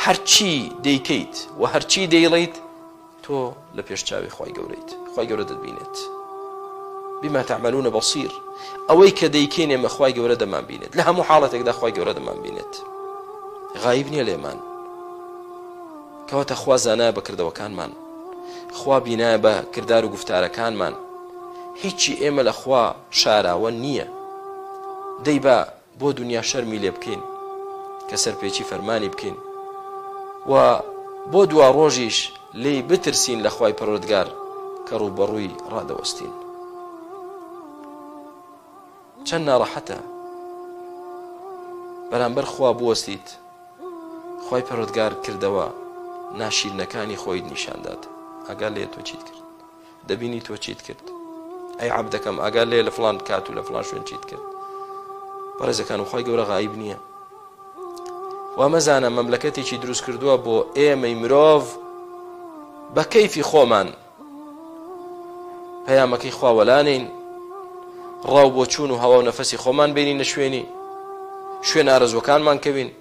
هەرچی دەیکەیت و هەرچی دەیڵێیت تۆ لە پێش چاوی خوای گەورەیت خوای گەورە دەبینێت بما تعملون بصير ئەوەی کە دەیکەین ئێمە خوای گەورە دەمان بینێت لە هەموو حاڵەتێکدا خوای گەورە دەمان بینێت غایب نییە لێمان کەواتە خوا زانایە بەکردەوەکانمان خوا بینایە بە کردار و گفتارەکانمان هیچی ئێمە لە خوا شاراوە نییە دەی بە بۆ دونیا شەرمی لێ بکەین کە سەرپێچی فەرمانی بکەین و بۆ دواڕۆژیش لێی بترسین لە خوای پەروەردگار کە ڕووبەڕووی ڕادەوەستین چەند ناڕەحەتە بەرامبەر خوا بوەستیت خی پەرۆتگار کردەوە ناشیرنەکانی خۆیت نیشاندات ئەگەر لێ تۆ چیت کرد دەبینی تۆ چیت کرد ئەی عبدەکەم ئاگار لێ لە فلان کات و لە فلان شوێن چیت کرد بەڕێزەکان و خی گەورە غایب نییە وامەزانە مەملەکەتێکی دروست کردووە بۆ ئێمەی مرۆڤ بە کەیفی خۆمان پەیامەکەی خواوەلانین ڕاو بۆ چوون و هەوا و نەفەسی خۆمان بینی نە شوێنی شوێن ئارەزوەکانمان کەوین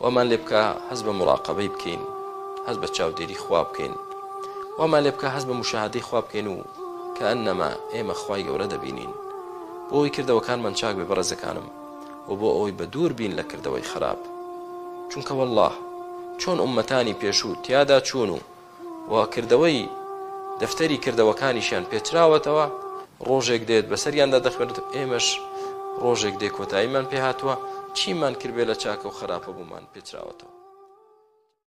وامان لێ بکا هەست بە موراقەبەی بکەین، هەست بە چاودێری خوا بکەین، وامان لێ بکا هەست بە موشاهەدەی خوا بکەین و کەئەنەما ئێمە خوای گەورە دەبینین. بۆ ئەوەی کردەوەکانمان چاک بێ بەڕێزەکانم و بۆ ئەوەی بە دوور بین لە کردەوەی خەراپ. چونکە وەڵڵا چۆن ئوممەتانی پێشوو تیادا چوون و و کردەوەی دەفتەری کردەوەکانیشیان پێچراوەتەوە، ڕۆژێک دێت بەسەریاندا دەخوێنرێت، ئێمەش ڕۆژێک دێ کۆتاییمان پێهاتووە، چیمان کردبێ لە چاکە و خەراپەبوومان پێچراوەتەوە.